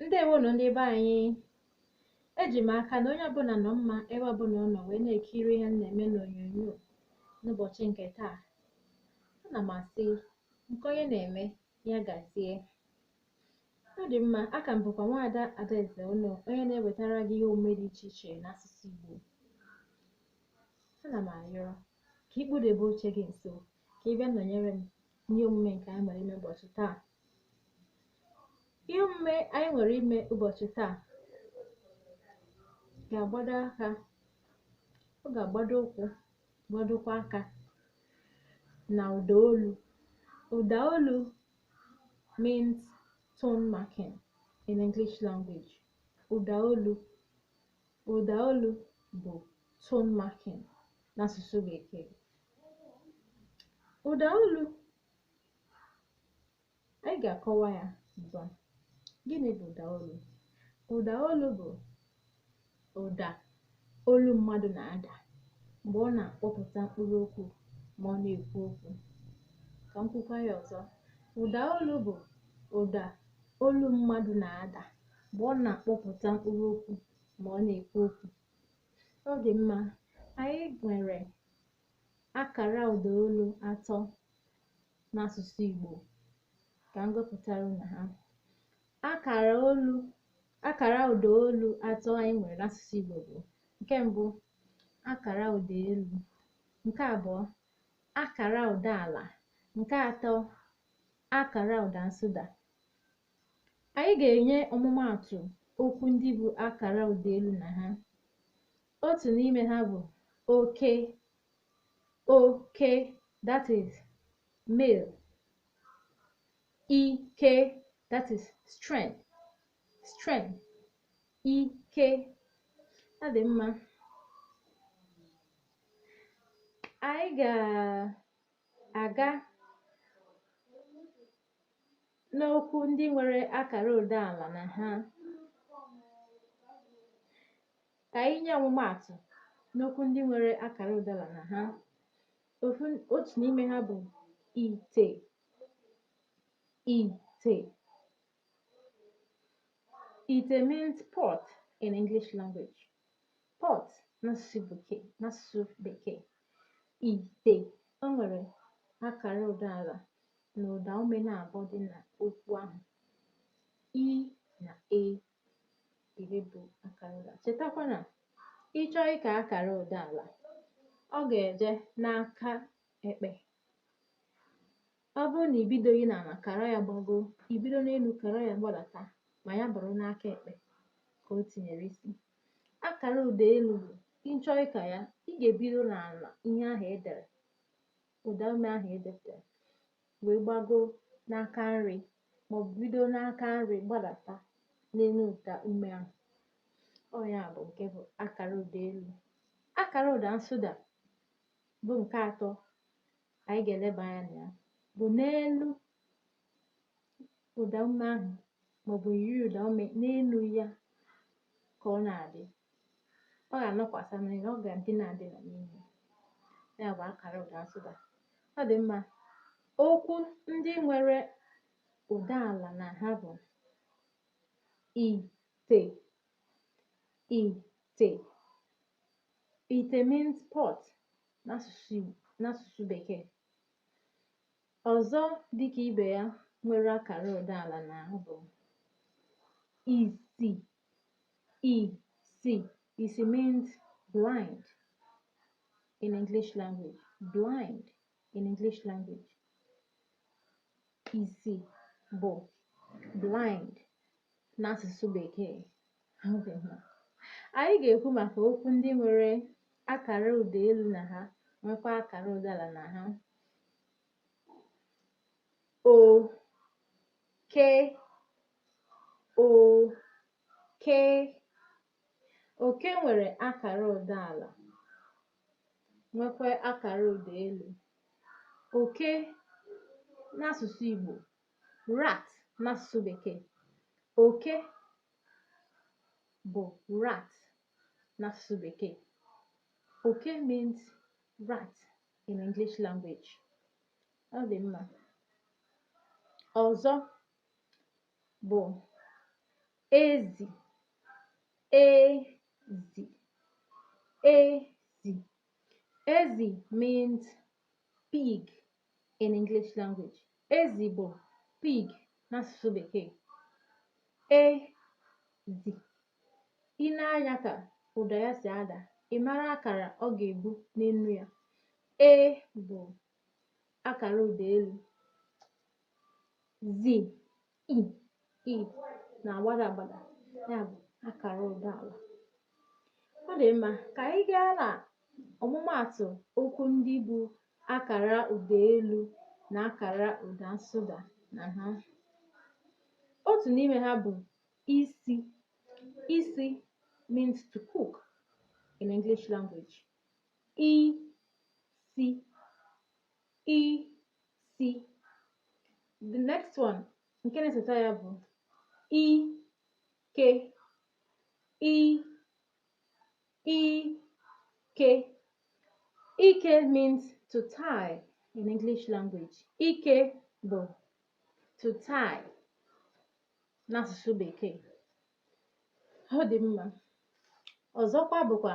ndewonụ ndị be anyị eji m aka na onye ọbụla nọ mma ebe ọbụla ọ nọ wee na-ekiri ihe m na-eme n'onyonyo n'ụbọchị nke taa ana m asị nke onye na-eme ya gazie Ọ dị mma, aka m bụkwa nwaada Adaeze Ono, onye na-ewetara gị ihe omume dị iche iche n'asụsụ Igbo. Ana m arịọ ka ị kpụdebe oche gị nso ka ị bịa nọnyere m n'ihe omume nke anyị nwere ime ụbọchị taa. Ihe omume anyị nwere ime ụbọchị taa ga-agbado aka, ọ ga-agbado ụkwụ, gbadokwa aka na ụda olu. Ụda olu means tone marking in English language. Ụdaolu. Ụdaolu bụ tone marking n'asụsụ Bekee. Ụdaolu anyị ga-akọwa ya ugbu a. Gịnị bụ ụdaolu? Ụdaolu bụ ụda olu mmadụ na-ada mgbe ọ na-akpọpụta mkpụrụ okwu ma ọ na-ekwu okwu ka m kwukwa ya ọzọ ụda olu bụ ụda olu mmadụ na-ada mgbe ọ na-akpọpụta mkpụrụ okwu ma ọ na-ekwu okwu ọ dị mma anyị nwere akara ụda olu atọ n'asụsụ Igbo ka m gụpụtara unu ha Akara olu akara ụda olu atọ anyị nwere n'asụsụ Igbo bụ nke mbụ akara ụda elu nke abụọ akara ụda ala nke atọ akara ụda nsụda anyị ga-enye ọmụmaatụ okwu ndị bụ akara ụda elu na ha otu n'ime ha bụ oke oke that is male ike that is strength strength ike ọ dị mma anyị ga-aga n'okwu ndị nwere akara ụda ala na ha ka anyị nye ọmụmaatụ n'okwu ndị nwere akara ụda ala na ha otu n'ime ha bụ ite ite ite means pot in english language pot n'asụsụ bekee ite o nwere akara ụda ala na ụda ume naabụ dị na okwu ahụ i na e bụ akara ụda chetakwa na ịchọọ ịka akara ụda ala ọ ga-eje n'aka ekpe ọ bụrụ na ibidoghị n'ala kara ya gbago ibido n'elu kara ya gbadata ma ya bụrụ n'aka ekpe ka o tinyere isi akara ụda elu bụ ịchọọ ịka ya ị ga-ebido n'ala ihe ahụ edere ụda ume ahụ edepụtara wee gbago n'aka nri maọbụ bido n'aka nri gbadata n'elu ụda ume ahụ ọ ya bụ nke bụ akara ụda elu akara ụda nsụda bụ nke atọ anyị ga-eleba anya na ya bụ n'elu ụda ume ahụ maọbụ yiri ụda ume n'elu ya ka ọ na-adị ọ ga-anọkwasa na ya ọ ga-edina edina n'ime ya bụ akara ụda nsụda ọ dị mma okwu ndị nwere ụda ala na ha bụ ite ite Ite means pot n'asụsụ Bekee. Ọzọ dịka ibe ya nwere akara ụda ala na ha bụ isi isi isi means blind in English language blind in English language isi bụ blind n'asụsụ Bekee anyị ga-ekwu maka okwu ndị nwere akara ụda elu na ha nwekwa akara ụda ala na ha oke oke oke nwere akara ụda ala nwekwa akara ụda elu oke n'asụsụ Igbo rat n'asụsụ bekee oke bụ rat n'asụsụ bekee oke means rat in English language ọ dị mma ọzọ bụ ezi ezi ezi ezi means pig in English language ezi bụ pig n'asụsụ bekee ezi i nee anya ka ụda ya si ada ị mara akara ọ ga-ebu n'enu ya e bu akara ụda elu zi i i na-agbada agbada ya bụ akara ụda ala ọ dị mma ka anyị gaa na ọmụmaatụ okwu ndị bu akara ụda elu na akara ụda nsụda na ha otu n'ime ha bụ isi isi means to cook in English language isi isi the next one nke na-esota ya bụ ike ike ike means to tie in English language ike bụ to tie n'asụsụ bekee ọ dị mma ọzọkwa bụkwa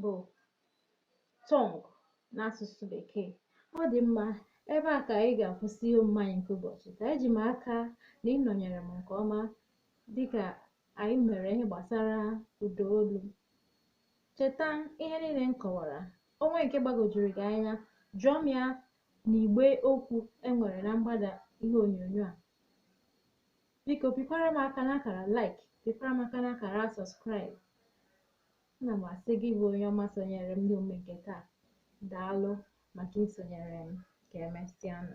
bụ tongue n'asụsụ bekee ọ dị mma ebe a ka anyị ga-akwụsị ihe omume anyị nke ụbọchị taa eji m aka na ị nọnyere m nke ọma dịka anyị mere ihe gbasara ụda olu cheta ihe niile m kọwara o nwee nke gbagojuru gị anya jụọ m ya n'igbe okwu e nwere na mgbada ihe onyonyo a biko pịkwara m aka n'akara like pịkwara m aka n'akara subscribe Ana m asị gị bụ onye ọma sonyere m n'omume nke taa, daalụ maka isonyere m ka emesịanụ.